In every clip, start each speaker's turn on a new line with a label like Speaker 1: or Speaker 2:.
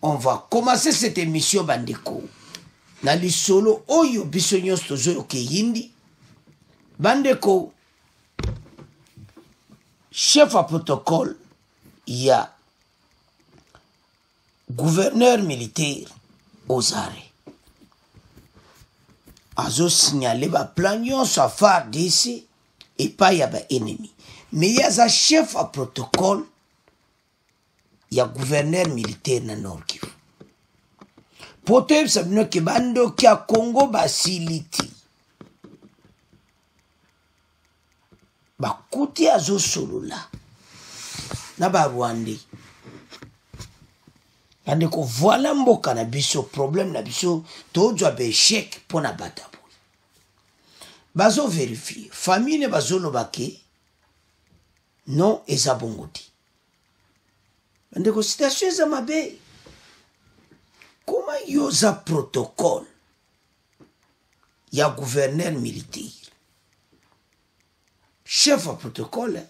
Speaker 1: On va commencer cette émission bandeko na lisolo oyo biso nyonso tozoyoka eyindi bandeko chef ya protocole ya gouverneur militaire ozare azosignale baplan nyonso ya fardc epai ya baennemi me ye aza chef ya protocole ya gouverneur militaire na nord kivu mpo toyebisa bino ke bandoki ya congo basiliti bakuti azosolola na barwandais bandeko voila mboka na biso problème na biso tozwa baechec mpo na bata boye bazoverifie famille bazoloba ke non eza bongo te bandeko citation eza mabe koma yo oza protocole ya gouverneur militaire chef ya protocole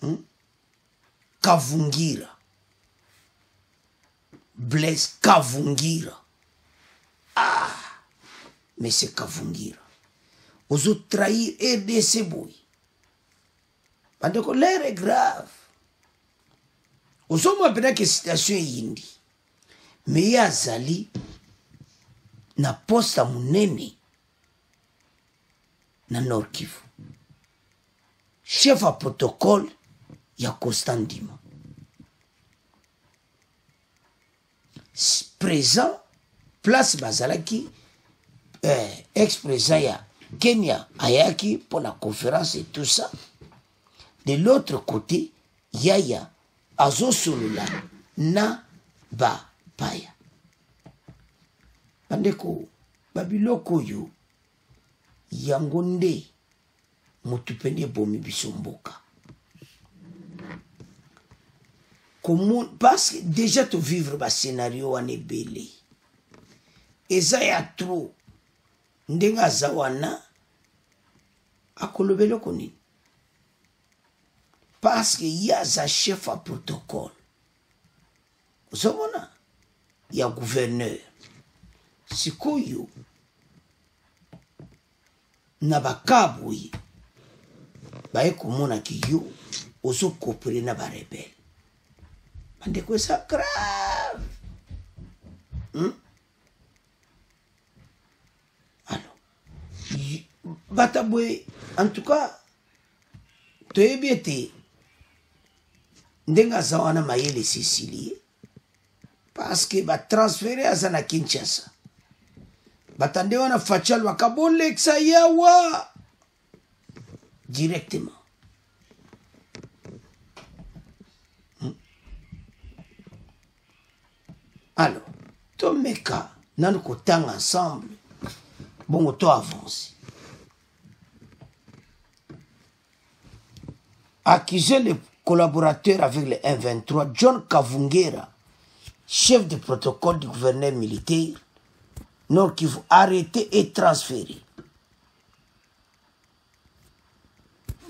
Speaker 1: hmm? kavungira Blaise Kavungira. Ah, Monsieur Kavungira. Ozo trahir RDC boy. Bandeko, l'air est grave. Ozo mwa pena ke situation yindi. Mais ye azali na poste ya monene na Nord Kivu. Chef ya protocole ya Constant Ndima. présent place bazalaki eh, ex présent ya kenya ayaki mpo na conférence et tout ça de l'autre côté yaya azosolola na bapaya bandeko babiloko oyo yango nde motu mpe nde ebomi biso mboka parce que déjà tovivre bascenario wana ebele eza ya trop ndenge aza wana akolobela oko nini parce que ye aza chef ya protocole ozomona ya gouverneur sikoyo na bakaa boye baye komona ki yo ozokopele na barebele bandeko eza grave hmm? alors bata boye en tout cas toyebi ete ndenge aza wana mayele esisili ye parce que ba transférer aza na Kinshasa batande wana facha lwaka bolekisa yawa directement hmm. alors tomeka nanu kotanga ensemble bongo to avance Accuser les collaborateurs avec les M23, John Kavungera, chef de protocole du gouverneur militaire, Nord Kivu, arrêté et transféré.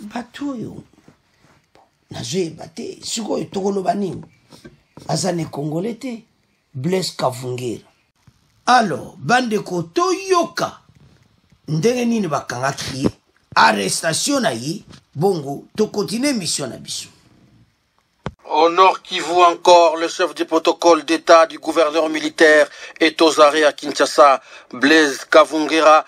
Speaker 1: bato oyo nazoyeba te sikoyo tokoloba nini aza na ekongole te Blaise Kavungera. Alors, bandeko toyoka ndenge nini bakangaki ye, arrestation na ye, bongo tokontinue mission na biso.
Speaker 2: Au Nord Kivu encore, le chef du protocole d'État du gouverneur militaire est aux arrêts à Kinshasa. Blaise Kavungera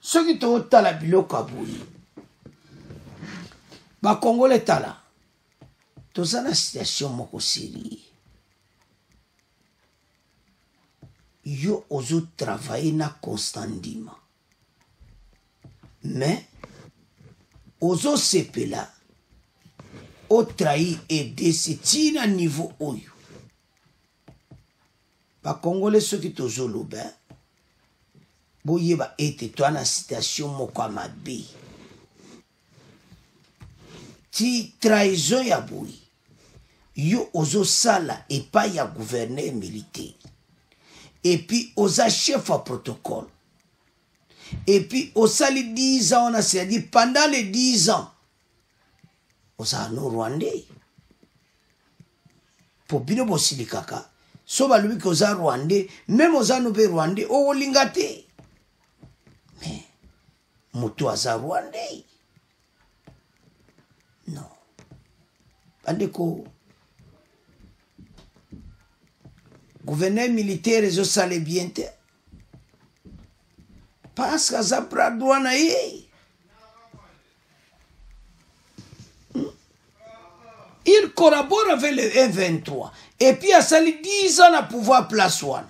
Speaker 1: soki totala biloko ya boye bakongole tala toza na situation moko serie yo ozotravaille na constant ndima mais ozosepela otrahi edc ntina niveau oyo bakongole soki tozoloba boyeba ete toa na situation moko ya mabe ti trahison ya boye yo ozosala epai ya gouverneur militaire epuis oza chef ya protocole epuis osali 10 ans wana c'est-à-dire pendant les 10 ans oza no rwandais mpo bino bosilikaka so balobi ke oza rwandais meme oza no mpe rwandais okolinga te me moto aza rwandais no bandeko gouverneur militaire ezosala bien te parce que aza bras droit na ye il collabore avec le M23 et puis asali 10 ans na pouvoir place wana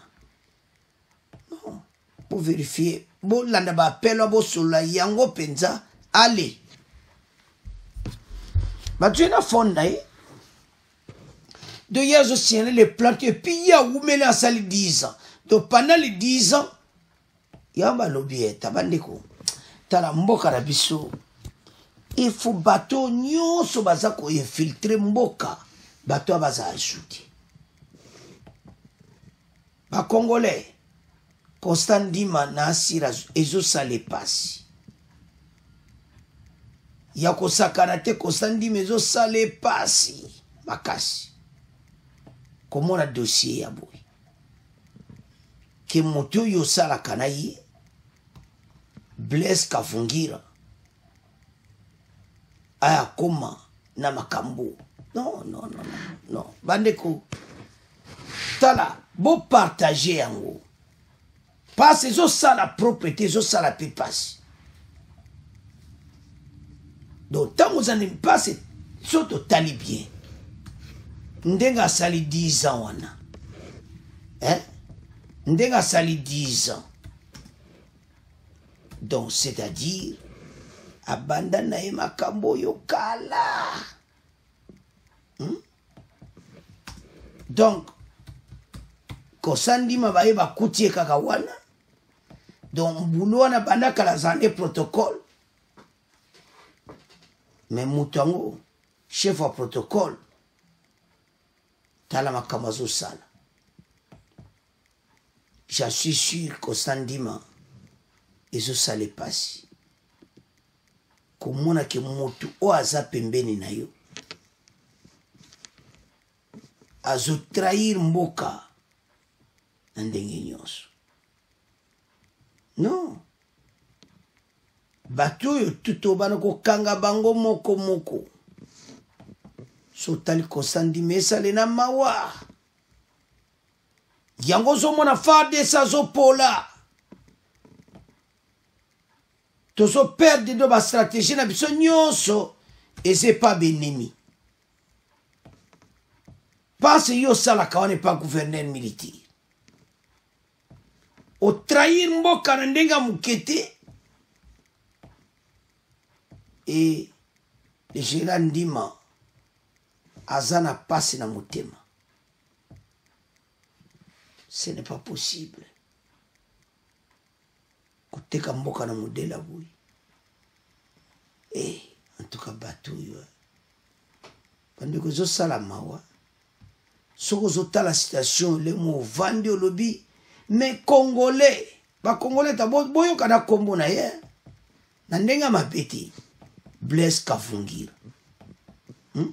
Speaker 1: non boverifie bolanda baapel wa bosolola yango mpenza ale bato ye na fone na ye donc ye azosignale le plante epuis ye awumeli asali 10 ans donc pendant le 10 ans yango balobi eta bandeko tala mboka na biso ifo bato nyonso baza koinfiltre mboka bato ya baza ajoute bacongolais constant ndima na asira ezosala epasi ya kosakana te constant ndima ezosala epasi makasi komona dossier ya boye ke moto oyo osalaka na ye blaise kavungira ayakoma na makambo non non non non bandeko tala bopartage yango pasi ezosala propre te ezosala mpe pasi donc ntango ozali mpasi so totali bien ndenge asali 10 ans wana eh? ndenge asali 10 ans donc c'est-à-dire abanda na ye makambo oyo kala hmm? donc kosandima baye bakuti ye kaka wana donc mbulu wana banda kala zande protocole me moto yango chef ya protocole tala makambo azosala je suis sûr kosandima ezosala epasi komona ke motu oyo aza pembeni na yo azotrahir mboka na ndenge nyonso non bato oyo tutobana kokanga bango moko moko sotali kosandima esale na mawa yango ozomona fardc azopola tozo perdre ndo ba stratégie na biso nyonso eza epa benemi mpasi yo osalaka wana epa gouverneur militaire otrahir mboka na ndenge ya moke te e le général ndima aza na mpasi na motema ce n'est pas possible koteka mboka na modele ya boye e eh, antuka bato oyo bandeko ezosala mawa soki ozotala situation olemo ovandi olobi me congolais bacongolais ta boyoka na nkombo na ye na ndenge ya mabe te blaise kavungira hmm?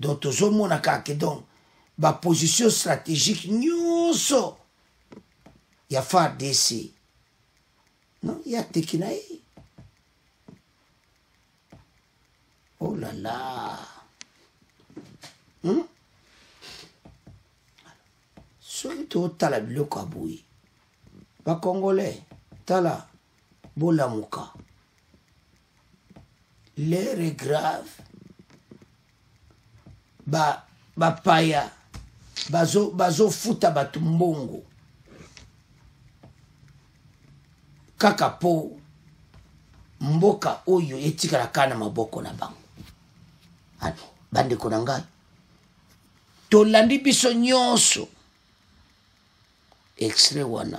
Speaker 1: donc tozomona kaka ke donc baposition stratégique nyonso ya fardc non ye ateki na ye oh la la hmm? soki totala biloko ya boye bakongole tala bolamuka l'heure est grave ba bapaya bazo bazofuta bato mbongo kaka mpo mboka oyo etikala kaka na maboko na bango ano bandeko na ngai tolandi biso nyonso extrait wana